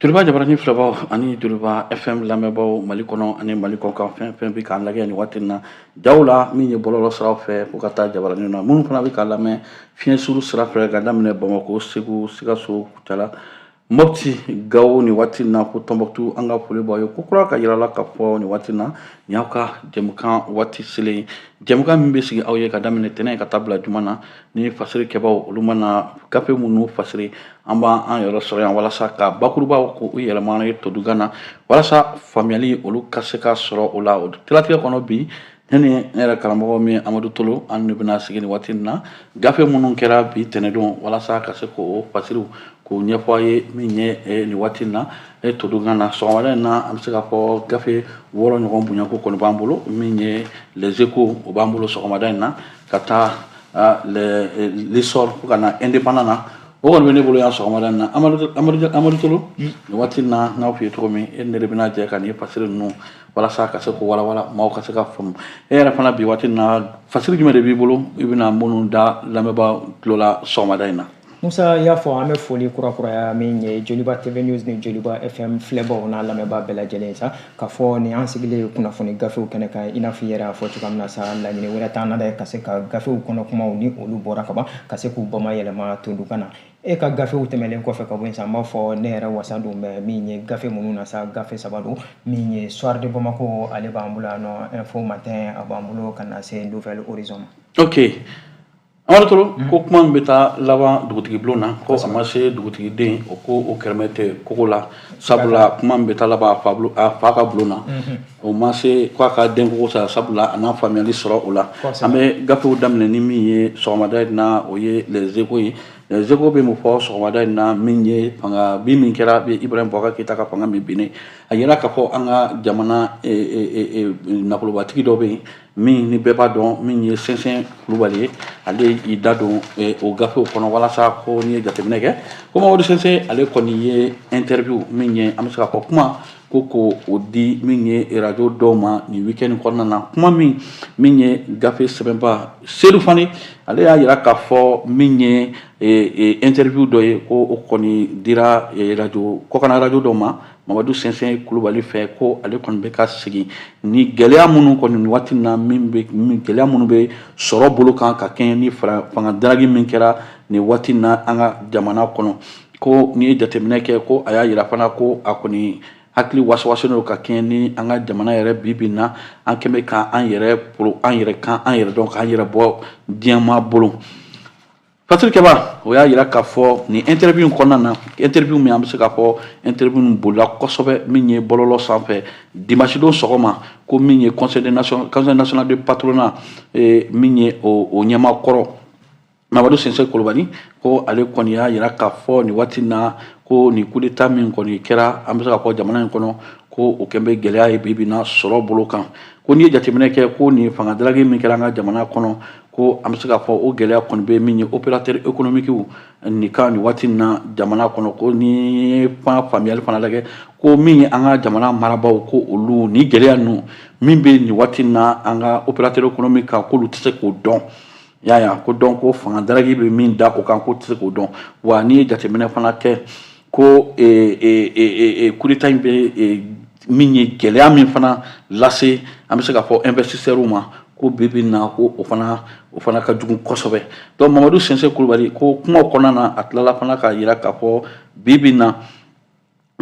Joliba jabaranin filɛbaw ani joliba fm lamɛnbaw mali kɔnɔ ani mali kɔkan fɛn fɛn bɛ k'an lajɛ nin waati na jaw la min ye bɔlɔlɔ sira fɛ fo ka taa jabaranin na minnu fana bɛ k'a lamɛn fiɲɛ suru sira fɛ ka daminɛ bamakɔ segu sikaso kutala moti gawo nin waati na ko tɔnbutu an ka foli b'aw ye ko kura k'a yira aw la k'a fɔ nin waati na nin y'aw ka jɛmukan waati selen ye jɛmukan min bɛ sigi aw ye ka daminɛ tɛnɛn ka taa bila juma na ni fasirikɛbaw olu mana gafe minnu fasiri an b'an an yɛrɛ sɔrɔ yan walasa ka bakurubaw ko u yɛlɛma ye todunkan na walasa faamuyali olu ka se ka sɔrɔ o la o siratigɛ kɔnɔ bi ne ni ne yɛrɛ karamɔgɔ min amadu tolo an de bɛna sigi nin waati na gafe minnu kɛra bi tɛnɛdon walasa ka se k'o fasiriw k'o ɲɛfɔ aw ye min ye eh, nin waati na e todunkan na sɔgɔmada in na an bɛ se k'a fɔ gafe wɔɔrɔ ɲɔgɔn bonyako kɔni b'an bolo min ye les echos o b'an bolo sɔgɔmada in na ka taa ah, l'essor fo ka na indépendant na o kɔni bɛ ne bolo yan sɔgɔmada in na amadu tolo nin waati na n y'a f'i ye cogo min e ni ne de bɛna jɛ ka nin fasiri ninnu walasa ka se k'o walawala maaw ka se ka faamu e yɛrɛ fana bi waati na fasiri jumɛn de b'i bolo i bɛna minnu da lamɛnbaa tulo la sɔgɔmada in na Musa y'a fɔ an bɛ foli kurakuraya min ye joliba tv news ni joliba fm filɛbaw n'a lamɛnbaa bɛɛ lajɛlen sa k'a fɔ ni an sigilen ye kunnafoni gafew kɛnɛ kan i n'a fɔ i yɛrɛ y'a fɔ cogoya min na sa laɲini wɛrɛ t'an na dɛ ka se ka gafew kɔnɔ kumaw ni olu bɔra kaban ka se k'u bamayɛlɛma todunkan na e ka gafew tɛmɛlen kɔfɛ ka bɔ yen sa n b'a fɔ ne yɛrɛ wasa don bɛ min ye gafe minnu na sa gafe saba don min ye soir de bamako ale b'an bolo yan nɔ info matin a b'an bolo ka na se nouvel horizon ma ok Amadu Tolo ko kuma min bɛ taa laban dugutigi bulon na ko a ma se dugutigi den o ko o kɛrɛmɛ tɛ kogo la sabula kuma min bɛ taa laban a fa ka bulon na o ma se k'a ka den kogo sa sabula a na faamuyali sɔrɔ o la an bɛ gafew daminɛ ni min ye sɔgɔmada in na o ye les echos ye les echos bɛ mun fɔ sɔgɔmada in na min ye fanga bin min kɛra Ibrahim Boubacar Keita ka fanga min binnen a yira k'a fɔ an ka jamana nafolobatigi dɔ bɛ yen min ni bɛɛ b'a dɔn min ye sɛnsɛn kulubali ye ale y'i da don eh, o gafew kɔnɔ walasa ko n'i ye jateminɛ kɛ ko mamadu sɛnsɛn ale kɔni ye interview min ye an bɛ se k'a fɔ kuma ko k'o di min ye radio dɔw ma nin weekend kɔnɔna na kuma min min ye gafe sɛbɛnbaa sedu fane ale y'a yira k'a fɔ min ye eh, eh, interview dɔ ye ko o kɔni dira radio kɔkana radio dɔ ma mamadu sɛnsɛn kulubali fɛ ko ale kɔni bɛ ka segin ni gɛlɛya minnu kɔni waati na min bɛ gɛlɛya minnu bɛ sɔrɔ bolo kan ka kɛɲɛ ni fanga daragi min kɛra nin waati na an ka jamana kɔnɔ ko n'i ye jateminɛ kɛ ko a y'a yira fana ko a kɔni hakili wasawasalen don ka kɛɲɛ ni an ka jamana yɛrɛ bi bi na an kɛn bɛ ka an yɛrɛ an yɛrɛ kan an yɛrɛ dɔn k'an yɛrɛ bɔ diɲɛmaa bolo Faturikɛba o y'a jira k'a fɔ nin interview in kɔnɔna na interview min an bɛ se k'a fɔ interview bolila kosɛbɛ min ye bɔlɔlɔ sanfɛ dimanche don sɔgɔma ko min ye conseil national du patronat min ye o ɲɛmaakɔrɔ Mamadu Sinsi Kulubali ko ale kɔni y'a jira k'a fɔ nin waati na ko nin coup d'état min kɔni kɛra an bɛ se k'a fɔ jamana in kɔnɔ ko o kɛlen bɛ gɛlɛya ye bibi na sɔrɔ bolo kan ko n'i ye jateminɛ kɛ ko nin fanga daraki min kɛra an ka jamana kɔnɔ ko an bɛ se k'a fɔ o gɛlɛya kɔni bɛ min ye opérateurs économiques nin kan nin waati na jamana kɔnɔ ko n'i ye faamuyali fana lajɛ ko min ye an ka jamana marabaaw ko olu ni gɛlɛya ninnu min bɛ nin waati na an ka opérateur économique kan k'olu tɛ se k'o dɔn y'a ko dɔn ko fanga daraki bɛ min da o kan k'u tɛ se k'o dɔn wa n'i ye jateminɛ fana kɛ ko coup d'état in bɛ min ye gɛlɛya min fana lase an bɛ se k'a fɔ investisseurs ma ko bi bi in na ko o fana o fana ka jugu kosɛbɛ donc Mamadu Sinsi Kulubali ko kuma kɔnɔna na a tilala fana k'a jira k'a fɔ bi bi in na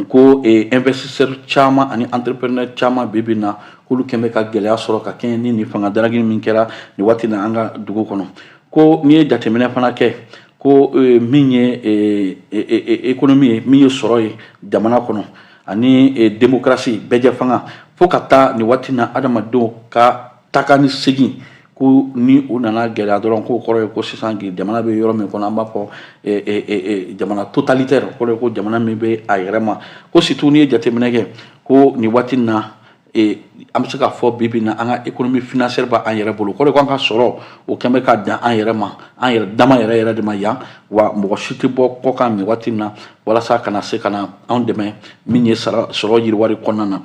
ko investisseurs caman ani entrepreneurs caman bi bi in na k'olu kɛn bɛ ka gɛlɛya sɔrɔ ka kɛɲɛ ni nin fanga daraki min kɛra nin waati na an ka dugu kɔnɔ ko n'i ye jateminɛ fana kɛ ko eh, min ye eh, eh, ekonomi ye min ye sɔrɔ ye jamana kɔnɔ ani demokarasi bɛɛjɛ fanga fo ka taa nin waati na adamadenw ka taka ni segin ko ni u nana gɛlɛya dɔrɔn k'o kɔrɔ ye ko sisan jamana bɛ yɔrɔ min kɔnɔ an b'a fɔ jamana totalitɛri kɔrɔ ye ko jamana min bɛ a yɛrɛ ma ko surtout n'i ye jateminɛ kɛ ko nin waati na ee an bɛ se k'a fɔ bi bi in na an ka économie financière bɛ an yɛrɛ bolo o kɔrɔ ko an ka sɔrɔ o kɛn bɛ ka dan an yɛrɛ ma an yɛrɛ dama yɛrɛ yɛrɛ de ma yan wa mɔgɔ si tɛ bɔ kɔkan nin waati in na walasa ka na se ka na anw dɛmɛ min ye sara sɔrɔ yiriwali kɔnɔna na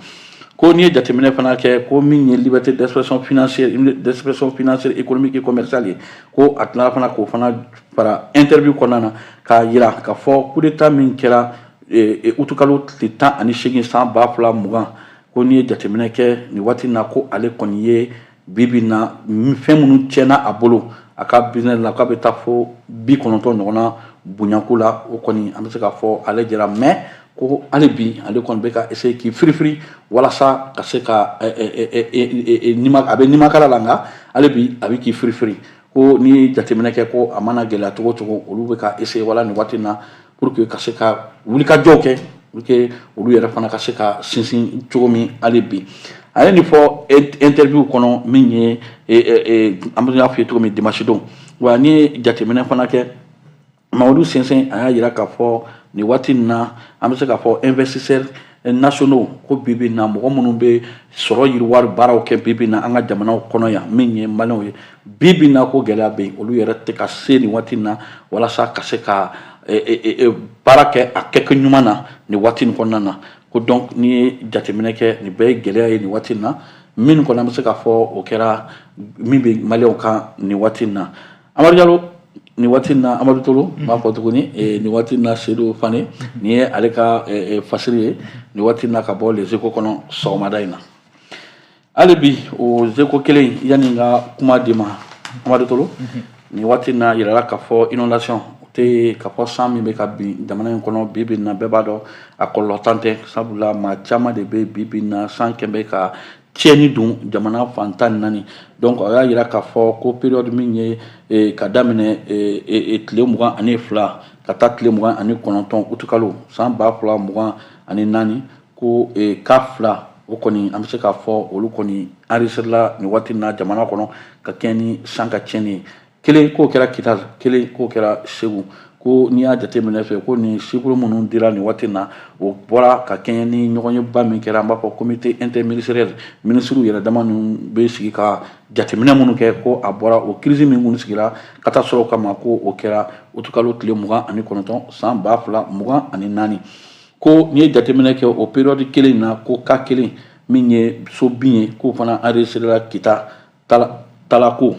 ko n'i ye jateminɛ fana kɛ ko min ye liberté d'expression financière d'expression financière économique et commerciale ye ko a tilala fana k'o fana fara interview kɔnɔna na k'a jira k'a fɔ coup d'état min kɛra utukalo tile tan ani seegin san ba fila mugan ko n'i ye jateminɛ kɛ nin waati na ko ale kɔni ye bibi na fɛn minnu tiɲɛna a bolo a ka business la k'a bɛ taa fo bi kɔnɔntɔn ɲɔgɔn na bonyanko la o kɔni an bɛ se k'a fɔ ale jɛra mais ko hali bi ale kɔni bɛ ka essayer k'i firifiri walasa ka se ka a bɛ nimakara la nka hali bi a bɛ k'i firifiri ko n'i ye jateminɛ kɛ ko a mana gɛlɛya cogo o cogo olu bɛ ka essayer wala nin waati na pour que ka se ka wulikajɔw kɛ pour que olu yɛrɛ fana ka se ka sinsin cogo min hali bi a ye nin fɔ interview kɔnɔ min ye an bɛ y'a fɔ aw ye cogo min dimanche don wa n'i ye jateminɛ fana kɛ Mamadu Sinsi a y'a jira k'a fɔ nin waati nin na an bɛ se k'a fɔ investisseur nationaux ko bi bi in na mɔgɔ minnu bɛ sɔrɔ yiriwari baaraw kɛ bi bi in na an ka jamana kɔnɔ yan min ye maliyɛnw ye bi bi in na ko gɛlɛya bɛ yen olu yɛrɛ tɛ ka se nin waati in na walasa ka se ka baara kɛ a kɛkɛ ɲuman na nin waati in kɔnɔna na ko donc n'i ye jateminɛ kɛ nin bɛɛ ye gɛlɛya ye nin waati in na min kɔni an bɛ se k'a fɔ o kɛra min bɛ maliyɛnw kan nin waati in na amadu jalo nin waati na amadu tolo n b'a fɔ tuguni nin waati na sedu fane nin ye ale ka fasiri ye nin waati na ka bɔ les échos kɔnɔ sɔgɔmada in na hali bi o échos kelen yanni n ka kuma di ma amadu tolo nin waati na yirala k'a fɔ inondation o tɛ k'a fɔ san min bɛ ka bin jamana in kɔnɔ bi bi in na bɛɛ b'a dɔn a kɔlɔlɔ dan tɛ sabula maa caman de bɛ bi bi in na san kɔni bɛ ka tiɲɛni don jamana fan tan ni naani donc a y'a jira k'a fɔ ko période min ye eh, ka daminɛ eh, eh, tile mugan ani fila ka taa tile mugan ani kɔnɔntɔn utukalo san ba fila mugan ani naani ko cas fila o kɔni an bɛ se k'a fɔ olu kɔni enregistrela nin waati na jamana kɔnɔ ka kɛɲɛ ni san ka tiɲɛni ye kelen k'o kɛra kita kelen k'o kɛra segu ko n'i y'a jateminɛ kɛ ko nin chiffre minnu dira nin waati na o bɔra ka kɛɲɛ ni ɲɔgɔnyeba min kɛra an b'a fɔ comité interministériel minisiriw yɛrɛ dama ninnu bɛ sigi ka jateminɛ minnu kɛ ko a bɔra o kirisi min minnu sigira catastrophe kama ko o kɛra utukalo tile mugan ani kɔnɔntɔn san ba fila mugan ani naani ko n'i ye jateminɛ kɛ o periyɔdi kelen na ko cas kelen min ye so bin ye k'o fana enregistrera kita tala talako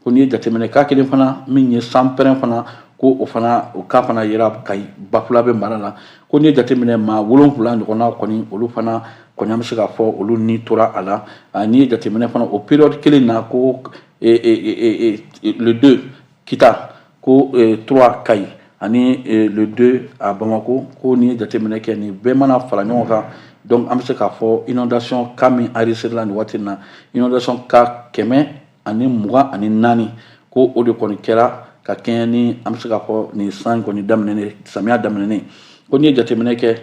ko n'i ye jateminɛ cas kelen fana min ye sanpɛrɛn fana ko o fana o cas fana yera kayi bafulabɛ mara la ko n'i ye jateminɛ maa wolonwula ɲɔgɔnna kɔni olu fana kɔni an bɛ se k'a fɔ olu ni tora a la n'i ye jateminɛ fana o période kelen na ko e, e, e, le deux kita ko eh, trois kayi ani eh, le deux a bamako ko n'i ye jateminɛ kɛ nin bɛɛ mana fara ɲɔgɔn kan donc an bɛ se k'a fɔ inondation cas min enregistrela nin waati in na inondation cas kɛmɛ ani mugan ani naani ko o de kɔni kɛra ka kɛɲɛ ni an bɛ se k'a fɔ nin san kɔni daminɛnen samiya daminɛnen ko n'i ye jateminɛ kɛ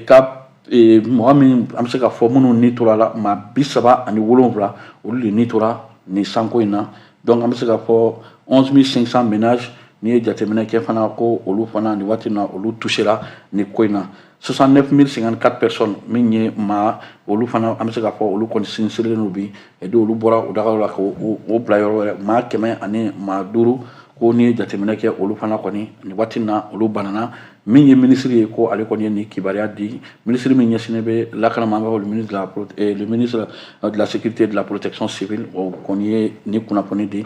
ka mɔgɔ min an bɛ se k'a fɔ minnu ni tora a la maa bi saba ani wolonwula olu de ni tora nin sanko in na donc an bɛ se k'a fɔ 11500 ménages n'i ye jateminɛ kɛ fana ko olu fana nin waati na olu tusera nin ko in na 69054 personnes min ye maa olu fana an bɛ se k'a fɔ olu kɔni sinistrélen don bi et donc olu bɔra u dagaw la k'u bila yɔrɔ wɛrɛ maa kɛmɛ ani maa duuru ko n'i ye jateminɛ kɛ olu fana kɔni nin waati na olu banana min ye minisiri ye ko ale kɔni ye nin kibaruya di minisiri min ɲɛsinnen bɛ lakana ma an b'a fɔ le ministre de la eh, le ministre de la sécurité de la protection civile o kɔni ye nin kunnafoni di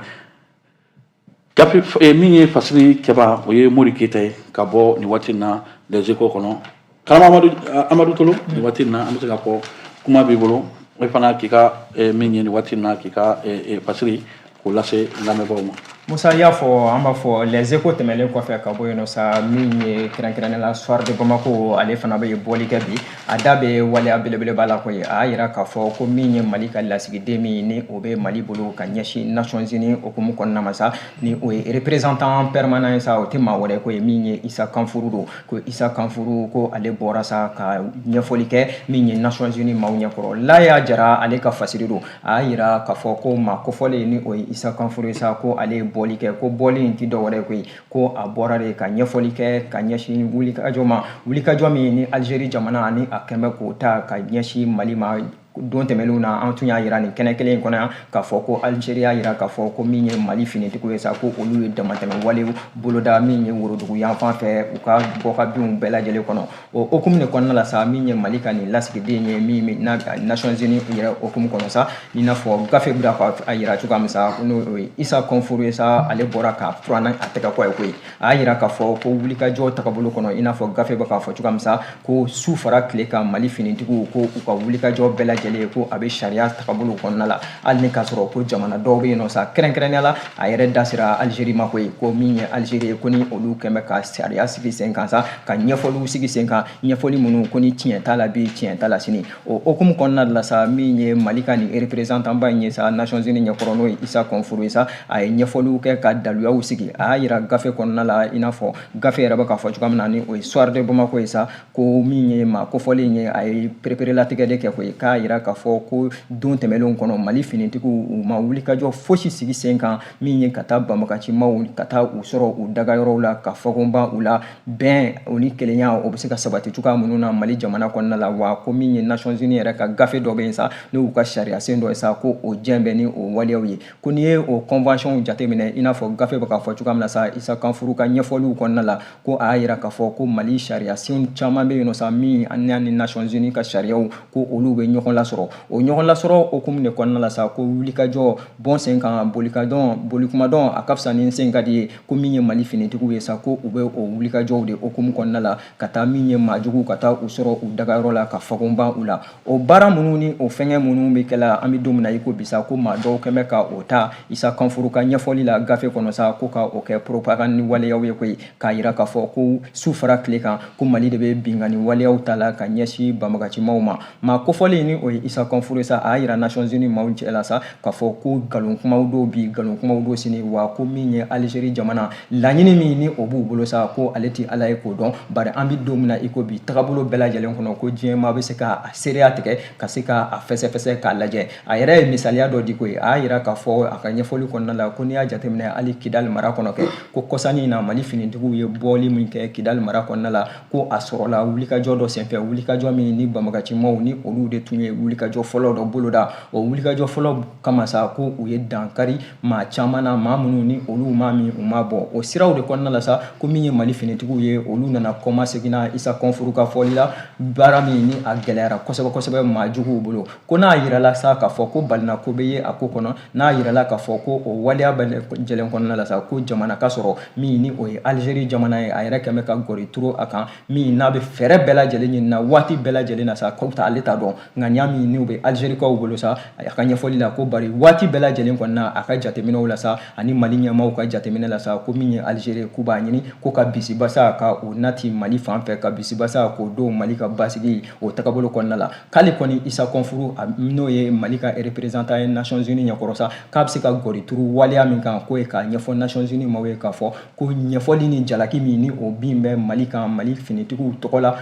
gafe eh, min ye fasiri kɛba o ye mori keyita ye ka bɔ nin waati na les échos kɔnɔ kalama amadu eh, amadu tolo nin waati na an bɛ se k'a fɔ kuma b'i bolo e fana k'i ka min ye nin waati na k'i ka fasiri K'o lase lamɛnbagaw ma. Musa y'a fɔ an b'a fɔ les échos tɛmɛnlen kɔfɛ ka bɔ yen sa min ye kɛrɛnkɛrɛnnenya la soir de bamako ale fana bɛ ye bɔli kɛ bi a da bɛ waleya belebeleba la koyi a y'a jira k'a fɔ ko min ye mali ka lasigiden min ni o bɛ mali bolo ka ɲɛsin nations unies hukumu kɔnɔna ma sa ni o ye représentant permanent ye sa o tɛ maa wɛrɛ koyi min ye isa kanfuru don ko isa kanfuru ko ale bɔra sa ka ɲɛfɔli kɛ min ye nations unies maaw ɲɛkɔrɔ laya jara ale ka fasiri don a y'a jira k'a fɔ ko maa kofɔlen ni o ye isa kanfuru ye sa ko ale ye bɔli kɛ ko bɔli in tɛ dɔwɛrɛ koyi ko a bɔra de ka ɲɛfɔli kɛ ka ɲɛsin wulikajɔ ma wulikajɔ min ni alizeri jamana ani a kɛn bɛ k'o ta ka ɲɛsin mali ma don tɛmɛnenw na an tun y'a yira nin kɛnɛ kelen in kɔnɔ yan k'a fɔ ko alizeri y'a yira k'a fɔ ko min ye mali finitigiw ye sa ko olu ye damatɛmɛ walew boloda min ye worodugu yanfan fɛ u ka bɔkabinw bɛɛ lajɛlen kɔnɔ O hukumu de kɔnɔna la sa min ye mali ka nin lasigiden ye min nations unies yɛrɛ hukumu kɔnɔ sa i n'a fɔ gafe bɛ k'a yira cogoya min sa n'o ye isa kɔnfuru ye sa ale bɔra ka furanna a tɛgɛ kɔ ye koyi a y'a yira k'a fɔ ko wulikajɔ tagabolo kɔnɔ i n'a fɔ gafe bɛ k'a fɔ cogoya min sa ko su fara tile kan mali finitigiw ko u ka wulikajɔ bɛɛ lajɛlen ye ko a bɛ sariya tagabolo kɔnɔna la hali ni k'a sɔrɔ ko jamana dɔw bɛ yen nɔ sa kɛrɛnkɛrɛnnenya la a yɛrɛ da sera alizeri ma koyi ko min ye alizeri ye ko ni olu kɛn bɛ ka sariya sigi sen kan sa ka ɲɛfɔliw sigi sen kan ɲɛfɔli minnu ko ni tiɲɛ t'a la bi tiɲɛ t'a la sini o hukumu kɔnɔna de la sa min ye mali ka nin représentant ba in ye sa nations unies ɲɛkɔrɔ n'o ye isa kɔnfuru ye sa a ye ɲɛfɔliw kɛ ka daluyaw sigi a y'a yira gafe kɔnɔna la i n'a fɔ gafe yɛrɛ bɛ k'a fɔ cogoya min na ni o ye soir de bamako ye sa ko min ye maa kofɔlen ye a ye pereperelatigɛ de kɛ koyi k'a yira k'a fɔ ko don tɛmɛnlenw kɔnɔ mali finitigiw u ma wulikajɔ fosi sigi sen kan min ye ka taa banbaganci maaw ka taa u sɔrɔ u dagayɔrɔw la ka fɔkonba u la bɛn o ni kelenya o bɛ se ka sabati cogoya minnu na mali jamana kɔnɔna la wa ko min ye nations unies yɛrɛ ka gafe dɔ bɛ yen sa n'u ka sariyasen dɔ ye sa ko o jɛn bɛ ni o waleyaw ye ko n'i ye o convention jateminɛ i n'a fɔ gafe bɛ k'a fɔ cogoya min na sa isa kanfuru ka ɲɛfɔliw kɔnɔna la ko a y'a yira k'a fɔ ko mali sariya senw caman bɛ yen nɔ sa min ani ni nations unies ka sariyaw ko olu bɛ ɲɔgɔn lasɔrɔ o ɲɔgɔn lasɔrɔ hukumu de kɔnɔna la sa ko wulikajɔ bɔn sen kan bolikadɔn bolikumadɔn a ka fisa ni sen ka di ye ko min ye mali finitigiw ye sa ko u bɛ o wulikajɔw de hukumu kɔnɔna la ka taa min ye maajuguw ka taa u sɔrɔ u dagayɔrɔ la ka fagonban u la o baara minnu ni o fɛngɛ minnu bɛ kɛla an bɛ don min na i ko bi sa ko maa dɔw kɛn bɛ ka o ta isa kɔnfuru ka ɲɛfɔli la gafe kɔnɔ sa ko ka o kɛ propagande waleyaw ye koyi k'a jira k'a fɔ ko su fara tile kan ko mali de bɛ binkanni waleyaw ta la ka ɲɛsin banbagancimaw ma maa kofɔlen ni o ye isa kɔnfuru sa a y'a jira nations unies maaw cɛ la sa k'a fɔ ko nkalon kumaw dɔw bi nkalon kumaw dɔw sini wa ko min ye algérie jamana laɲini min ni o b'u bolo sa ko ale tɛ ala ye k'o dɔn bari an bɛ don min na i ko bi tagabolo bɛɛ lajɛlen kɔnɔ ko diɲɛmaa bɛ se k'a seereya tigɛ ka se ka a fɛsɛfɛsɛ k'a lajɛ a yɛrɛ ye misaliya dɔ di koyi a y'a jira k'a fɔ a ka ɲɛfɔli kɔnɔna la ko n'i y'a jateminɛ hali kidali mara kɔnɔ kɛ ko kɔsannin na mali finitigiw ye bɔli min kɛ kidali mara kɔnɔna la ko a sɔrɔla wulikajɔ dɔ senfɛ wulikajɔ min ni banbagancimaw ni olu de tun ye wulikajɔ fɔlɔ dɔ boloda o wulikajɔ fɔlɔ kama sa ko u ye dankari maa caman na maa minnu ni olu maa min u ma bɔ o siraw de kɔnɔna la sa ko min ye mali finitigiw ye olu nana kɔma seginna isa kɔnfuru ka fɔli la baara min ni a gɛlɛyara kosɛbɛ kosɛbɛ maa juguw bolo ko n'a yirala sa k'a fɔ ko balina ko bɛ ye a ko kɔnɔ n'a yirala k'a fɔ ko o waleya bɛɛ lajɛlen kɔnɔna la sa ko jamana ka sɔrɔ min ni o ye alizeri jamana ye a yɛrɛ kɛn bɛ ka gɔri turu a kan min n'a bɛ fɛɛrɛ bɛɛ lajɛlen ɲini na waati bɛɛ lajɛlen na sa ko ale t'a dɔn ŋaniya min n'u bɛ alizerikaw bolo sa a ka ɲɛfɔli la ko bari waati bɛɛ lajɛlen kɔnɔna a ka jateminɛw la sa ani mali ɲɛmaaw ka jateminɛ la sa ko min ye alizeri k'u b'a ɲini ko ka bisibasa ka o nati mali fan fɛ ka bisibasa k'o don mali ka basigi o tagabolo kɔnɔna la k'ale kɔni isa kɔnfuru n'o ye mali ka représentant ye nations unies ɲɛkɔrɔ sa k'a bɛ se ka gɔri turu waleya min kan k'o ye k'a ɲɛfɔ nations unies maaw ye k'a fɔ ko ɲɛfɔli ni jalaki min ni o bin bɛ mali kan mali finitigiw tɔgɔ la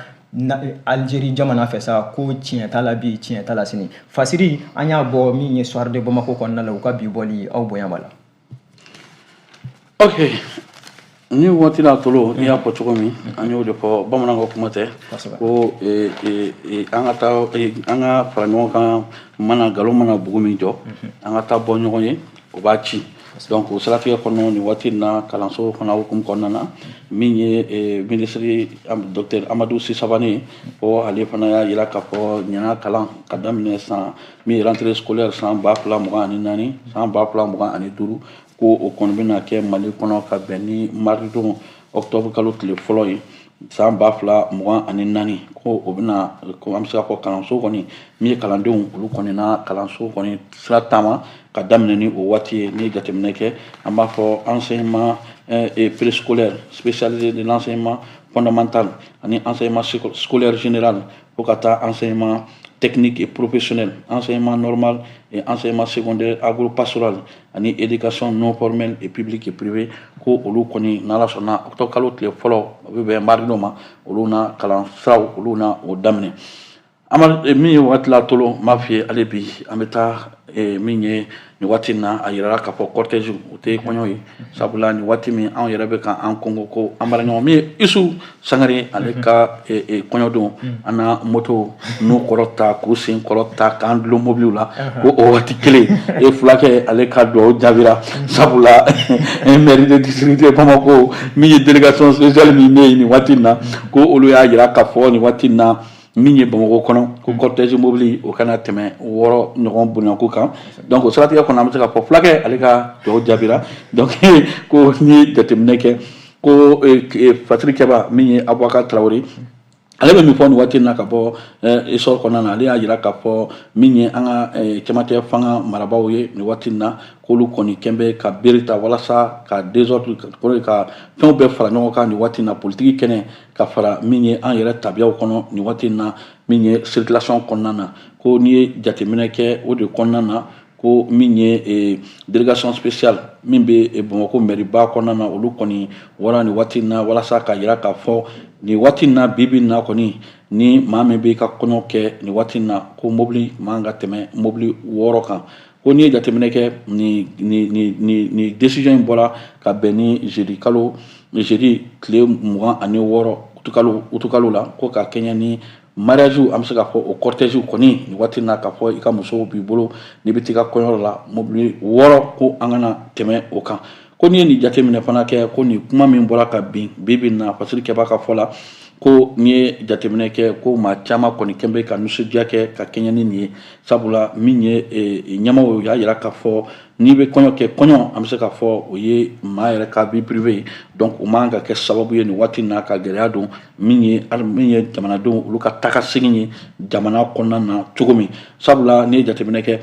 Aljeri jamana fɛ sa ko tiɲɛ t'a la bi tiɲɛ t'a la sini fasiri an y'a bɔ min ye Soir de Bamako kɔnɔna la u ka bi bɔli aw bonya b'a la. ok ni waati la tolo n'i y'a fɔ cogo min an y'o de fɔ bamanan ka kuma tɛ ko e, e, e, an ka fara ɲɔgɔn kan mana nkalon mana bugu min jɔ an ka taa bɔ ɲɔgɔn ye o b'a ci donc o siratigɛ kɔnɔ nin waati in na kalanso fana hukumu kɔnɔna na min ye eh, minisiri dɔktɛr amadu si savane ko ale fana y'a yira k'a fɔ ɲinan kalan ka daminɛ san min ye rentrée scolaire san ba fila mugan ani naani san ba fila mugan ani duuru ko o kɔni bɛna kɛ mali kɔnɔ ka bɛn ni maridon octobre kalo tile fɔlɔ ye san ba fila mugan ani naani ko o bɛna ko an bɛ se k'a fɔ kalanso kɔni min ye kalandenw olu kɔni na kalanso kɔni sira taama ka daminɛ ni o waati ye n'i ye jateminɛ kɛ an b'a fɔ enseignement eh, préscolaire spécialisé de l'enseignement fondamental ani enseignement scolaire général fo ka taa enseignement technique et professionnel enseignement normal et enseignement secondaire agro pastoral ani éducation non formelle et publique et privée ko olu kɔni n'ala sɔnna octobre kalo tile fɔlɔ o bɛ bɛn mardi don ma olu na kalan siraw olu na o daminɛ ama eh, min ye waati la tolo m'a f'i ye hali bi an bɛ taa eh, min ye nin waati in na a yirala k'a fɔ cortège o tɛ kɔɲɔ ye sabula nin waati min anw yɛrɛ bɛ ka an kongo ko an baaraɲɔgɔn min ye isu sangare ale mhm. ka e, e, kɔɲɔdon mhm. an na moto n'u kɔrɔta k'u sen kɔrɔta k'an dulon mobiliw la mhm. ko o waati kelen e fulakɛ ale ka dugawu jaabira sabula mairie du district bamako min ye délégation spéciale min bɛ yen nin waati in na ko olu y'a jira k'a fɔ nin waati in na min ye bamako kɔnɔ ko cortège mobili o kana tɛmɛ wɔɔrɔ ɲɔgɔn bonyako kan donc o siratigɛ kɔnɔ an bɛ se k'a fɔ fulakɛ ale ka dugawu jaabira donc ko n'i ye jateminɛ kɛ ko fasirikɛbaa min ye abubakar tarawele ale bɛ min fɔ nin waati in na ka bɔ Essor kɔnɔna na ale y'a jira k'a fɔ min ye an ka cɛmancɛ fanga marabaaw ye nin waati in na k'olu kɔni kɛn bɛ ka bere ta walasa ka désordre ka fɛnw bɛɛ fara ɲɔgɔn kan nin waati in na politiki kɛnɛ ka fara min ye an yɛrɛ tabiyaw kɔnɔ nin waati in na min ye circulation kɔnɔna na ko n'i ye jateminɛ kɛ o de kɔnɔna na ko min ye eh, délégation spéciale min bɛ eh, Bamakɔ mɛriba kɔnɔna na olu kɔni bɔra nin waati in na walasa k'a jira k'a fɔ nin waati in na bi bi in na kɔni ni maa min bɛ ka kɔɲɔ kɛ nin waati in na ko mobili man ka tɛmɛ mobili wɔɔrɔ kan ko n'i ye jateminɛ kɛ nin nin nin nin nin décision in bɔra ka bɛn ni jeudi kalo jeudi tile mugan ani wɔɔrɔ utukalo utukalo la ko ka kɛɲɛ ni mariagew an bɛ se k'a fɔ o cortège kɔni nin waati in na k'a fɔ i ka muso b'i bolo n'i bɛ t'i ka kɔɲɔyɔrɔ la mobili wɔɔrɔ ko an kana tɛmɛ o kan ko n'i ye nin jateminɛ fana kɛ ko nin kuma min bɔra ka bin bi bi in na fasirikɛbaa ka fɔ la ko n'i ye jateminɛ kɛ ko maa caman kɔni kɛn bɛ ka nisɔndiya kɛ ka kɛɲɛ ni nin ye sabula min ye e, ɲɛmaaw o y'a jira k'a fɔ n'i bɛ kɔɲɔ kɛ kɔɲɔ an bɛ se k'a fɔ o ye maa yɛrɛ ka vie privée ye donc o man kan ka kɛ sababu ye nin waati in na ka gɛlɛya don min ye hali min ye jamanadenw olu ka tagasegin ye jamana kɔnɔna na cogo min sabula n'i ye jateminɛ kɛ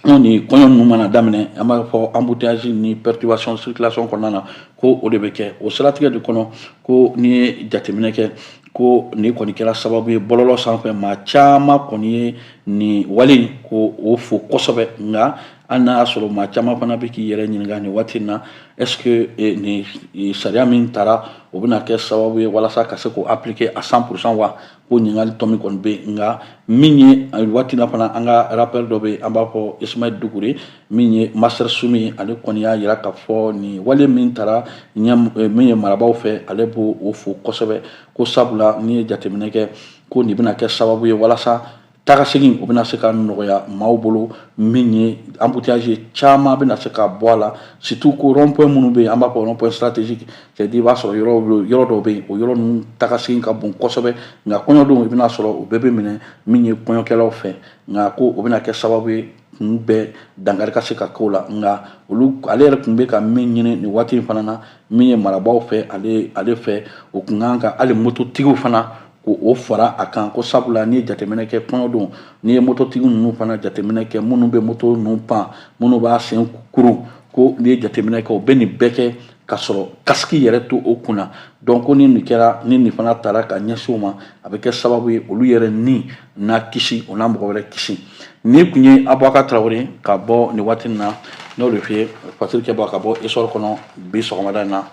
anw ni kɔɲɔ ninnu mana daminɛ an b'a fɔ embouteillage ni perturbation circulation kɔnɔna na ko o de bɛ kɛ o siratigɛ de kɔnɔ ko n'i ye jateminɛ kɛ ko nin kɔni kɛra sababu ye bɔlɔlɔ sanfɛ maa caman kɔni ye nin wale ko o fo kosɛbɛ nka hali n'a y'a sɔrɔ maa caman fana bɛ k'i yɛrɛ ɲininka nin waati in na est-ce que eh, nin eh, sariya min tara o bɛna kɛ sababu ye walasa ka se k'o appliquer à 100 pour cent wa ko ɲininkali tomi kɔni bɛ yen nka min ye eh, waati in na fana an ka rappeur dɔ bɛ yen an b'a fɔ Ismail Dukure min ye master sumi ale kɔni y'a jira k'a fɔ nin wale min tara min ye marabaaw fɛ ale b'o fo kosɛbɛ ko sabula n'i ye jateminɛ kɛ ko nin bɛna kɛ sababu ye walasa taga segin o bɛna se ka nɔgɔya maaw bolo min ye embouteillage caman bɛna se ka bɔ a la surtout ko rond point minnu bɛ yen an b'a fɔ rond point stratégique c'est à dire i b'a sɔrɔ yɔrɔ yɔrɔ dɔw bɛ yen o yɔrɔ ninnu taga segin ka bon kosɛbɛ nka kɔɲɔ don i bɛn'a sɔrɔ o bɛɛ bɛ minɛ min ye kɔɲɔkɛlaw fɛ nka ko o bɛna kɛ sababu ye k'o bɛɛ dankari ka se ka k'o la nka olu ale yɛrɛ tun bɛ ka min ɲini nin waati in fana na min ye marabaaw fɛ ale ale fɛ o kun kan ka hali mototigiw fana ko o fara a kan ko sabula n'i ye jateminɛ kɛ kɔɲɔ don n'i ye mototigi ninnu fana jateminɛ kɛ minnu bɛ moto ninnu pan minnu b'a sen kuru ko n'i ye jateminɛ kɛ o bɛ nin bɛɛ kɛ ka sɔrɔ kasiki yɛrɛ t'o kunna donc ko ni nin kɛra ni nin fana tara ka ɲɛsin o ma a bɛ kɛ sababu ye olu yɛrɛ ni na kisi o na mɔgɔ wɛrɛ kisi nin tun ye abubakar tarawele ka bɔ nin waati na n'o de fɛ ye fasiri kɛ bɔ ka bɔ essor kɔnɔ bi sɔgɔmada in na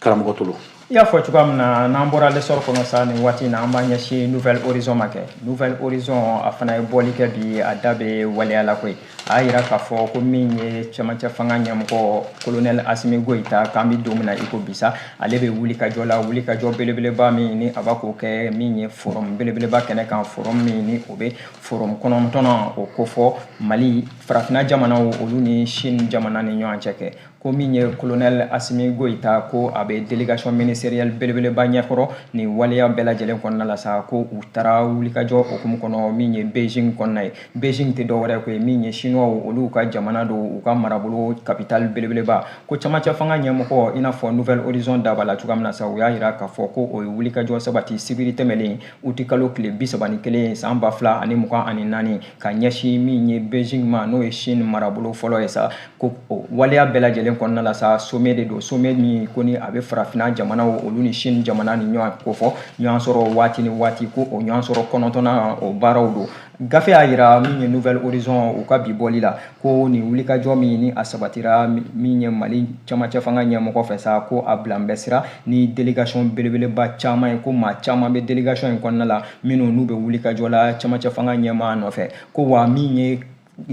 karamɔgɔ tolo i y'a fɔ cogoya min na n'an bɔra l'essor kɔnɔ sa nin waati na an b'a ɲɛsin nouvel horizon ma kɛ nouvel horizon a fana ye bɔli kɛ bi a da bɛ waleya la koyi a y'a yira k'a fɔ ko min ye cɛmancɛ fanga ɲɛmɔgɔ kolonɛl asimi goyita k'an bɛ don min na i ko bi sa ale bɛ wulikajɔ la wulikajɔ belebeleba min ni a bɛ k'o kɛ min ye forum belebeleba kɛnɛ kan forum min ni o bɛ forum kɔnɔntɔnnan o kofɔ mali farafina jamanaw olu ni chine jamana ni ɲɔgɔn cɛ kɛ ko min ye kolonɛl asimi goyita ko a bɛ délégation ministérielle belebeleba ɲɛkɔrɔ nin waleya bɛɛ lajɛlen kɔnɔna la sa ko u taara wulikajɔ hukumu kɔnɔ min ye beijing kɔnɔna ye beijing tɛ dɔwɛrɛ ko ye min ye chinois olu ka jamana don u ka marabolo capitale belebeleba ko cɛmancɛ fanga ɲɛmɔgɔ i n'a fɔ nouvel horizon da b'a la cogoya min na sa u y'a jira k'a fɔ ko o ye wulikajɔ sabati sibiri tɛmɛlen uti kalo tile bi saba ni kelen san ba fila ani mugan ani naani ka ɲɛsin min ye beijing ma n'o ye chine marabolo fɔlɔ ye sa ko waleya bɛɛ lajɛlen kɔnɔna la sa sommet de don sommet min ko ni a bɛ farafinna jamanaw olu ni chine jamana ni ɲɔgɔn ko fɔ ɲɔgɔn sɔrɔ waati ni waati ko o ɲɔgɔn sɔrɔ kɔnɔntɔnnan o baaraw don gafe y'a yira min ye nouvel horizon u ka bi bɔli la ko nin wulikajɔ min ni a sabatira min ye mali cɛmancɛ fanga ɲɛmɔgɔ fɛ sa ko a bila bɛ sira ni délégation belebeleba caman ye ko maa caman bɛ délégation in kɔnɔna la minnu n'u bɛ wulikajɔ la cɛmancɛ fanga ɲɛmaa nɔfɛ ko wa min ye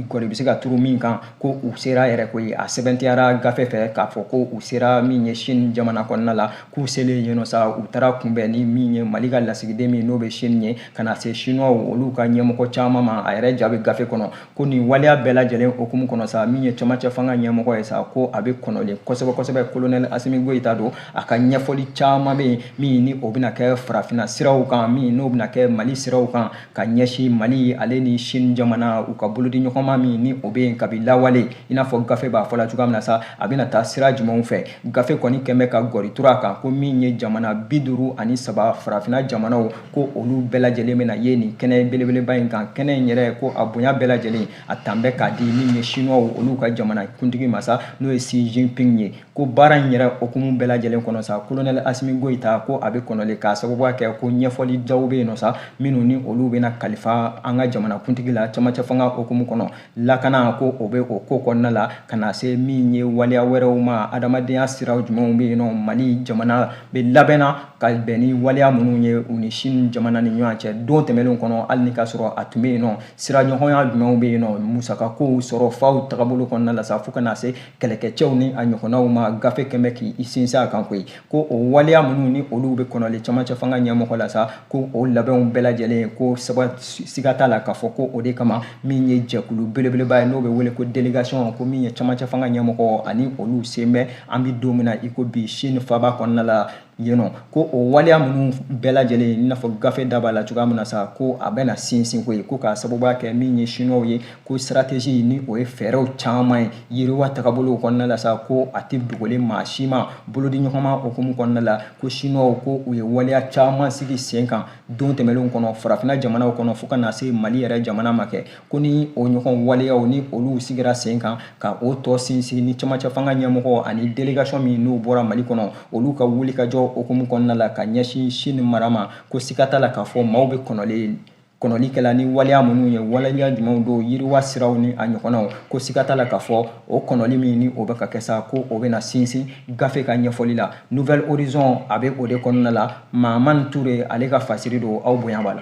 kɔni bɛ se ka turu min kan ko u sera yɛrɛ ko ye a sɛmɛntiyara gafe fɛ k'a fɔ ko u sera min ye chine jamana kɔnɔna la k'u selen yen nɔ sa u taara kunbɛn ni min ye mali ka lasigiden min n'o bɛ chine ye ka na se chinois olu ka ɲɛmɔgɔ caman ma a yɛrɛ ja bɛ gafe kɔnɔ ko nin waleya bɛɛ lajɛlen hukumu kɔnɔ sa min ye cɛmancɛ fanga ɲɛmɔgɔ ye sa ko a bɛ kɔnɔlen kosɛbɛ kosɛbɛ kolonɛli asimi goyita don a ka ɲɛfɔli caman bɛ yen min ni o bɛna kɛ farafinna siraw kan min n'o bɛna kɛ mali siraw kan ka ɲɛsin mali ale ni sini jamana u ka bolodiɲɔgɔnma min ni o bɛ yen kabi lawale i n'a fɔ gafe b'a fɔla cogoya min na sa a bɛna taa sira jumɛnw fɛ gafe kɔni kɛmɛ ka gɔri turu a kan ko min ye jamana bi duuru ani saba farafinna jamanaw ko olu bɛɛ lajɛlen bɛna ye nin kɛnɛ belebeleba in kan kɛnɛ in yɛrɛ ko a bonya bɛɛ lajɛlen a tan bɛ k'a di min ye siniwaw olu ka jamana kuntigi masa n'o ye xi jinping ye ko baara in yɛrɛ hukumu bɛɛ lajɛlen kɔnɔ sa kolonɛli asimi goyita ko a bɛ kɔnɔlen k'a sababuya kɛ ko ɲɛfɔli jaw bɛ yen nɔ sa minnu ni olu bɛna kalifa an ka jamanakuntigi la cɛmancɛ fanga hukumu kɔnɔ lakanako o bɛ o ko kɔnɔna la ka na se min ye waleya wɛrɛw ma adamadenya siraw jumɛnw bɛ yen nɔ mali jamana bɛ labɛnna ka bɛn ni waleya minnu ye u ni sini jamana ni ɲɔgɔn cɛ don tɛmɛnlenw kɔnɔ hali ni ka sɔrɔ a tun bɛ yen nɔ siraɲɔgɔnya jumɛnw bɛ yen nɔ musakakow sɔrɔ faw tagabolo kɔnɔna la sa fo ka na se kɛlɛkɛcɛw ni a ɲɔgɔnnaw ma gafe kɛmɛ k'i sinsin a kan koyi ko o waleya minnu ni olu bɛ kɔnɔlen camancɛ fanga ɲɛmɔgɔ la sa ko o labɛnw bɛɛ lajɛlen ko siga t'a la k'a fɔ ko o de kama min ye jɛkulu belebeleba ye n'o bɛ wele ko délégation ko min ye camancɛ fanga ɲɛmɔgɔ ani olu sen bɛ an bɛ don min na i ko bi sini faba kɔnɔna la yen nɔ ko o waleya minnu bɛɛ lajɛlen i n'a fɔ gafe da b'a la cogoya min na sa ko a bɛna sinsin koyi ko k'a sababuya kɛ min ye siniwaw ye ko stratégie ni o ye fɛɛrɛw caman ye yiriwa tagabolow kɔnɔna la sa ko a tɛ dogolen maa si ma bolodiɲɔgɔnma hukumu kɔnɔna la ko siniwaw ko u ye waleya caman sigi sen kan don tɛmɛnlenw kɔnɔ farafinna jamanaw kɔnɔ fo ka na se mali yɛrɛ jamana ma kɛ ko ni o ɲɔgɔn waleyaw ni olu sigira sen kan ka o tɔ sinsin ni cɛmancɛ fanga ɲɛmɔgɔ ani délégation min n'o bɔra mali kɔnɔ olu ka wulikajɔ hukumu kɔnɔna la ka ɲɛsin sini mara ma ko siga t'a la k'a fɔ maaw bɛ kɔnɔlen kɔnɔli kɛla ni waleya minnu ye waleya jumɛnw don yiriwa siraw ni a ɲɔgɔnnaw ko siga t'a la k'a fɔ o kɔnɔli min ni o bɛ ka kɛ sa ko o bɛna sinsin gafe ka ɲɛfɔli la nouvel horizon a bɛ o de kɔnɔna la mahamani ture ale ka fasiri don aw bonya b'a la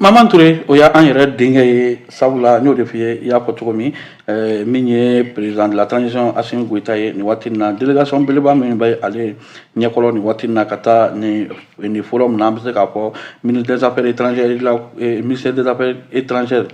Mahamani Ture o y'an yɛrɛ denkɛ ye sabula n y'o de f'i ye i y'a fɔ cogo min ɛɛ min ye président de la transition Assimi Goïta ye nin waati in na délégation belebeleba min bɛ ale ɲɛkɔrɔ nin waati in na ka taa nin nin forum na an bɛ se k'a fɔ ministre des affaires étrangères la ministère des affaires étrangères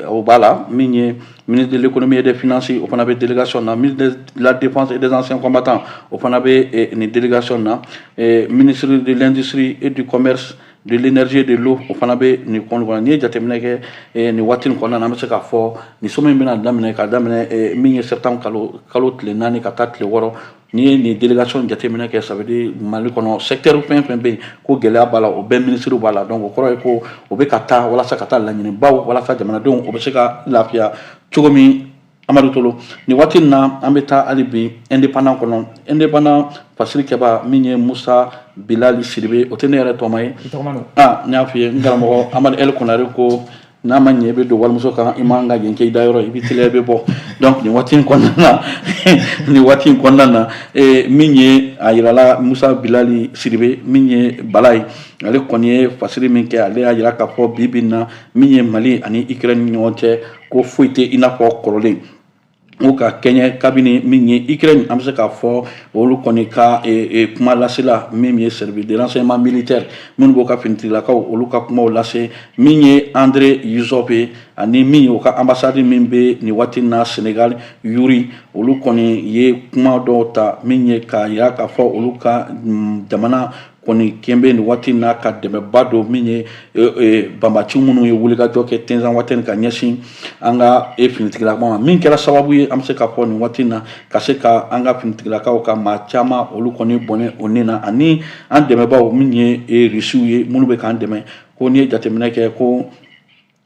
o b'a la min ye ministre de l'économie et des finances o fana bɛ délégation na ministre de la défense et des anciens combattants o fana bɛ nin délégation na ministre de l'industrie et du commerce de l'énergie de l'eau o fana bɛ nin kɔn kɔnɔ n'i ye jateminɛ kɛ eh, nin waati nin kɔnɔna na an bɛ se k'a fɔ nin sommet in bɛna daminɛ ka daminɛ eh, min ye septembre kalo tile naani ka taa tile wɔɔrɔ n'i ye nin délégation jateminɛ kɛ ça veut dire mali kɔnɔ secteur fɛn fɛn bɛ yen ko gɛlɛya b'a la o bɛɛ minisiriw b'a la donc o kɔrɔ ye ko o bɛ ka taa walasa ka taa laɲinibaw walasa jamanadenw o bɛ se ka lafiya cogo min amadu tolo nin waati in na an bɛ taa hali bi indépendant kɔnɔ indépendant fasirikɛba min ye musa bilali sidibe o tɛ ne yɛrɛ tɔma ye ah n y'a f'i ye n karamɔgɔ amadu el konare ko n'a ma ɲɛ i bɛ don walimuso kan i man ka yen kɛ i da yɔrɔ i bɛ teliya i bɛ bɔ donc nin waati in kɔnɔna na nin waati in kɔnɔna na eh, min ye a yirala musa bilali sidibe min ye bala ye ale kɔni ye fasiri min kɛ ale y'a yira k'a fɔ bi bi in na min ye mali ani ukraine ni ɲɔgɔn cɛ ko foyi tɛ i n'a fɔ kɔrɔlen o ka kɛɲɛ kabini min ye ukraine an bɛ se k'a fɔ olu kɔni ka e, e, kuma lasela min ye service de renseignement militaire minnu b'o ka finitigilakaw olu ka kumaw lase min ye andre yusov ye ani min ye u ka ambasadi min bɛ nin waati na senegal yuri olu kɔni ye kuma dɔw ta min ye k'a yira k'a fɔ olu ka mm, jamana kɔni kɛn bɛ nin waati na ka dɛmɛba don min ye e, e, banbaci minnu ye wulikajɔ kɛ tɛnzanwatɛni ka ɲɛsin an ka e finitigilakaw ma min kɛra sababu ye an bɛ se k'a fɔ nin waati na ka se ka an ka finitigilakaw ka maa caman olu kɔni bɔnɛ o ni na ani an dɛmɛbaw min ye e, risiw ye minnu bɛ k'an dɛmɛ ko n'i ye jateminɛ kɛ ko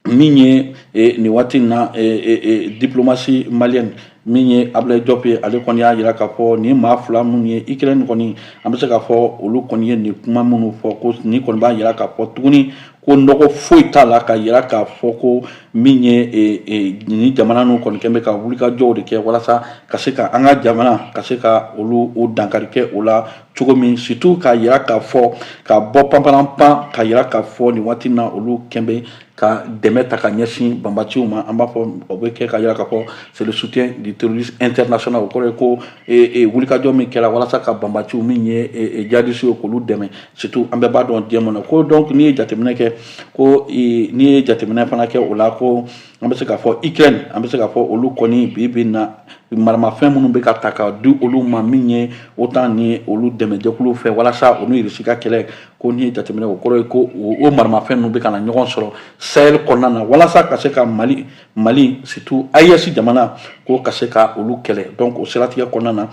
min ye eh, nin waati in na eh, eh, eh diplomasi maliyɛn min ye abulayi jɔp ye ale kɔni y'a jira k'a fɔ nin maa fila minnu ye ukraine kɔni an bɛ se k'a fɔ olu kɔni ye nin kuma minnu fɔ ko nin kɔni b'a jira k'a fɔ tuguni ko nɔgɔ foyi t'a la ka jira k'a fɔ ko min ye e, e, nin jamana ninnu kɔni kɛn bɛ ka wulikajɔw de kɛ walasa ka se ka an ka jamana ka se ka olu o dankari kɛ o la cogo min surtout k'a jira k'a fɔ ka bɔ panparan pan k'a jira k'a fɔ nin waati na olu kɛn bɛ ka dɛmɛ ta ka ɲɛsin banbaciw ma an b'a fɔ o bɛ kɛ ka jira k'a fɔ c'est le soutien du terrorisme international o kɔrɔ ye ko wulikajɔ min kɛra walasa ka banbaciw min ye jadisiw k'olu dɛmɛ surtout an bɛɛ b'a dɔn diɲɛ kɔnɔ ko donc n'i ye jateminɛ kɛ ko n'i ye jateminɛ fana kɛ o la ko an bɛ se k'a fɔ ukraine an bɛ se k'a fɔ olu kɔni bi bi na maramafɛn minnu bɛ ka ta ka di olu ma min ye otan ni olu dɛmɛjɛkulu fɛ walasa olu irisi ka kɛlɛ ko n'i ye jateminɛ o kɔrɔ ye ko o maramafɛn ninnu bɛ ka na ɲɔgɔn sɔrɔ sahel kɔnɔna na walasa ka se ka mali mali surtout ayɛsi jamana ko ka se ka olu kɛlɛ donc o siratigɛ kɔnɔna na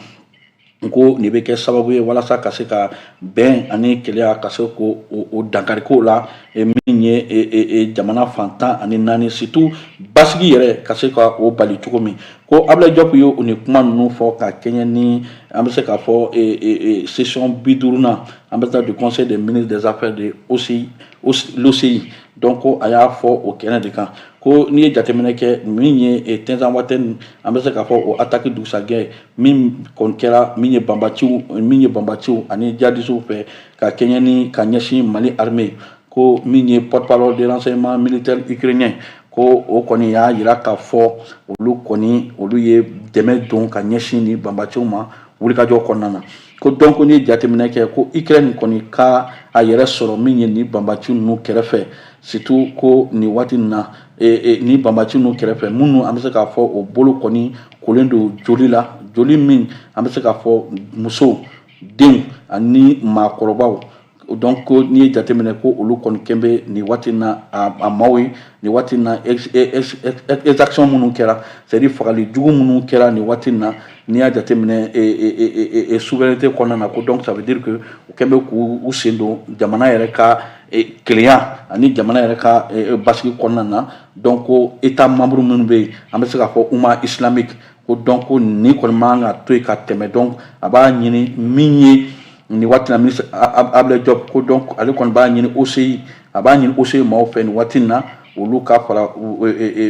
n ko nin bɛ kɛ sababu ye walasa ka se ka bɛn ani kelenya ka se k'o dankari k'o la e, min ye e, e, jamana fan tan ani naani surtout basigi yɛrɛ ka se ka o bali cogo min ko abulayi jɔpu ye o nin kuma ninnu fɔ ka kɛɲɛ ni an bɛ se k'a fɔ sesiyɔn bi duurunan an bɛ taa du conseil des ministres des affaires de l'oci donc ko a y'a fɔ o kɛnɛ de kan ko n'i ye jateminɛ kɛ min ye tɛnzanwatɛni an bɛ se k'a fɔ o ataki dugusajɛ min kɔni kɛra min ye banbaciw ani jihadistes fɛ ka kɛɲɛ ni ka ɲɛsin mali armée ko min ye porte-parole de renseignement militaire ukrainien ko o kɔni y'a jira k'a fɔ olu kɔni olu ye dɛmɛ don ka ɲɛsin ni banbaciw ma wulikajɔ kɔnɔna na ko donc n'i ye jateminɛ kɛ ko ukraine kɔni ka a yɛrɛ sɔrɔ min ye ni banbaci ninnu kɛrɛfɛ surtout ko nin waati in na ni banbaci ninnu kɛrɛfɛ minnu an bɛ se k'a fɔ o bolo kɔni kolen don joli la joli min an bɛ se k'a fɔ musow denw ani maakɔrɔbaw donc ko n'i ye jateminɛ ko olu kɔni kɛn bɛ nin waati na a maaw ye nin waati na exaction minnu kɛra c'est à dire fagali jugu minnu kɛra nin waati na n'i y'a jateminɛ souveraineté kɔnɔna na ko donc ça veut dire que u kɛn bɛ k'u sen don jamana yɛrɛ ka kelenya ani jamana yɛrɛ ka basigi kɔnɔna na donc ko états membres minnu bɛ yen an bɛ se k'a fɔ umma islamique ko donc ko nin kɔni man ka to yen ka tɛmɛ donc a b'a ɲini min ye nin waati na ministre ablaye diop ko donc ale kɔni b'a ɲini OCI a b'a ɲini OCI maaw fɛ nin waati in na olu ka fara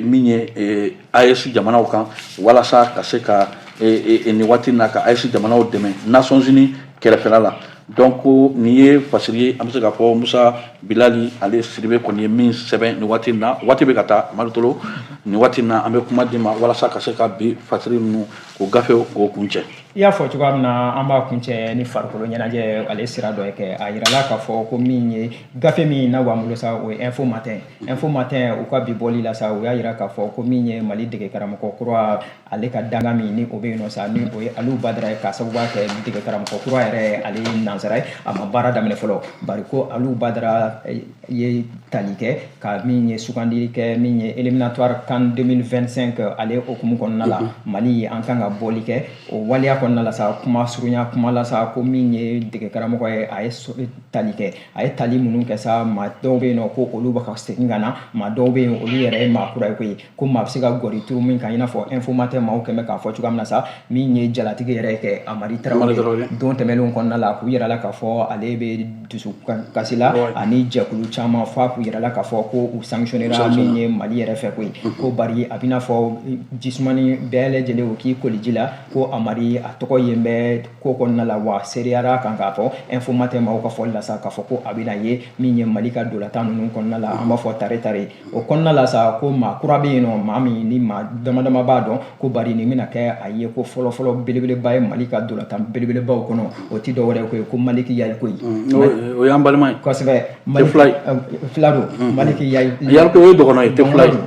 min ye AES jamanaw kan walasa ka se ka nin waati na ka AES jamanaw dɛmɛ nations unies kɛrɛfɛla la donc nin ye fasiri ye an bɛ se k'a fɔ musa bilali ale sidibe kɔni ye min sɛbɛn nin waati na waati bɛ ka taa amadu tolo nin waati na an bɛ kuma d'i ma walasa ka se ka bi fasiri ninnu Ko gafe k'o kuncɛ i y'a fɔ cogoya min na an b'a kuncɛ ni farikolo ɲɛnajɛ ale sira dɔ ye kɛ a jirala k'a fɔ ko min ye gafe min na b'an bolo sa o ye info matin info matin u ka bi bɔli la sa u y'a jira k'a fɔ ko min ye mali dege karamɔgɔ kura ale ka dankan min ni o bɛ yen nɔ sa ni o ye alu badara ye k'a sababu b'a kɛ dege karamɔgɔ kura yɛrɛ ale ye nansara ye a ma baara daminɛ fɔlɔ bari ko alu badara ye tali kɛ ka min ye sugandili kɛ min ye éliminatoire CAN 2025 euh, ale o hukumu kɔnɔna la mhm. mali an kan ka bɔli kɛ o waleya kɔnɔna la sa kuma surunya kuma la sa ko min ye dege karamɔgɔ ye a ye tali kɛ a ye tali minnu kɛ sa maa dɔw bɛ yen nɔ ko olu bɛ ka segin ka na maa dɔw bɛ yen olu yɛrɛ ye maa kura ye koyi ko maa bɛ se ka gɔri turu min kan i n'a fɔ info matin maaw kɛn bɛ k'a fɔ cogoya min na sa min ye jalatigi yɛrɛ kɛ amari tarawele don tɛmɛnenw kɔnɔna la k'o jirala k'a fɔ ale bɛ dusu kasi la ani jɛkulu caman fana k'o jirala k'a fɔ ko u sanctionnera min ye mali yɛrɛ fɛ koyi ko bari a b'i n'a fɔ jisumani bɛɛ lajɛlen o k'i koliji la ko amari a tɔgɔ yen bɛ ko kɔnɔna la wa seereyara kan k'a fɔ info matin maaw ka fɔli la sa k'a fɔ ko a bɛna ye min ye mali ka ntolatan ninnu kɔnɔna la an b'a fɔ tare tare o kɔnɔna la sa ko maa kura bɛ yen nɔ maa min ni maa dama dama b'a dɔn ko bari nin bɛna kɛ a ye ko fɔlɔfɔlɔ belebeleba ye mali ka dolatan belebelebaw kɔnɔ o tɛ dɔwɛrɛ ye ko maliki yalikoye o y'an balima ye kosɛbɛ fila don maliki yalikoye dɔgɔnɔ ye tɛ fila ye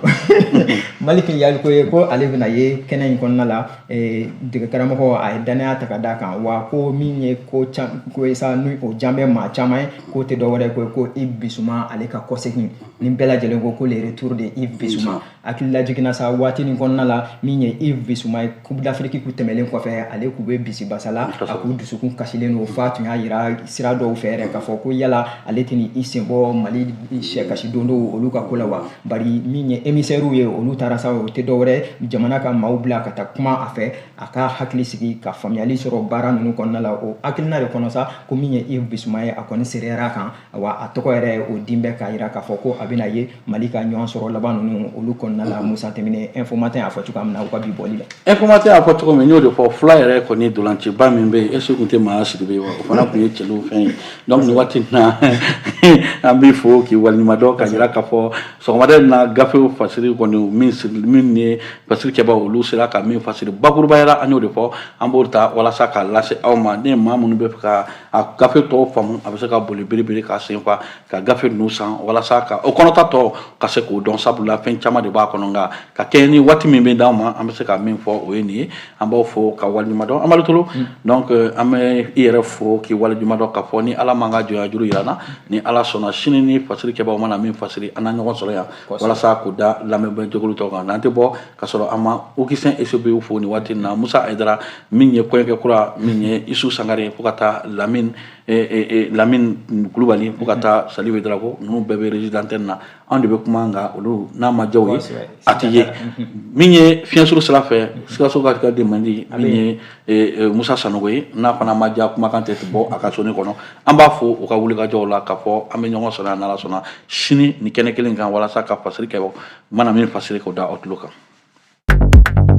maliki yalikoye ko ale bɛna ye kɛnɛ in kɔnɔna la dege karamɔgɔ a ye dannaya ta ka d'a kan wa ko min ye ko ko ye sa ni o diyalen bɛ maa caman ye k'o tɛ dɔwɛrɛ ye ko Yves Bissouma ale ka kɔsegin ni bɛɛ lajɛlen ko le retour de Yves Bissouma hakili lajiginna sa waati nin kɔnɔna la min ye Yves Bissouma ye Coupe d'Afrique o tɛmɛlen kɔfɛ ale k'u bɛ bisi basa la a k'u dusukun kasilen don f'a tun y'a jira sira dɔw fɛ yɛrɛ k'a fɔ ko yala ale tɛna i senbɔ Mali sélection dɔw olu ka ko la wa bari min ye émissaires ye olu taara sa o tɛ dɔwɛrɛ jamana ka maaw bila ka taa kuma a fɛ a ka hakili sigi ka faamuyali sɔrɔ baara ninnu kɔnɔna la o hakilina de kɔnɔ sa ko min ye Yves Bissouma ye a kɔni seereya kan wa a tɔgɔ yɛrɛ o din bɛ k'a jira k'a fɔ ko a bɛna ye mali ka ɲɔgɔn sɔrɔ laban ninnu olu kɔnɔna la musa tɛmɛnen Info Matin y'a fɔ cogoya min na u ka bi bɔli la Info Matin y'a fɔ cogo min n y'o de fɔ fila yɛrɛ kɔni dolanciba min bɛ yen est-ce que tun tɛ maa sidibe ye wa o fana tun ye cɛliw fɛn ye donc nin waati in na an b'i fo k'i waleɲumandɔn ka jira k'a fɔ sɔgɔmada in na gafew fasiri kɔni min siri min ye fasiri kɛbaaw olu sera ka min fasiri bakurubaya la an y'o de fɔ an b'o ta walasa k'a lase aw ma ni maa minnu bɛ fɛ ka a gafe tɔw faamu a bɛ se ka boli biribiri ka sen fa ka gafe ninnu san walasa ka o kɔnɔta tɔ ka se k'o dɔn sabula fɛn caman de b'a kɔnɔ nka ka kɛɲɛ ni waati min bɛ d'an ma an bɛ se ka min fɔ o ye nin ye an b'aw fo k'aw waleɲuman dɔn Amadu Tolo mm. donc euh, an bɛ i yɛrɛ fo k'i waleɲuman dɔn k'a fɔ ni Ala m'an ka jɔnya juru jira an na ni Ala sɔnna sini ni fasiri kɛbaaw mana min fasiri an na ɲɔgɔn sɔrɔ yan walasa k'o da lamɛnbaa jɛkulu tulo kan n'an tɛ bɔ ka sɔrɔ an ma okisɛn esobe fo nin waati na musa ayidara min ye kɔɲɔkɛ kura min ye isu sangare fo ka taa lamini kulubali fo ka taa salifu darako ninnu bɛɛ bɛ régie d'antenne na an de bɛ kuma nka olu n'a ma diya u ye a tɛ ye min ye fiɲɛsuru sira fɛ sikasokakaw den mandi min ye musa sanogo ye n'a fana ma diya kumakan tɛ bɔ a ka soni kɔnɔ an b'u fo u ka wulikajɔw la k'a fɔ an bɛ ɲɔgɔn sɔrɔ yan n'ala sɔnna sini nin kɛnɛ kelen kan walasa ka fasiri kɛbaaw mana min fasiri k'o da aw tulo kan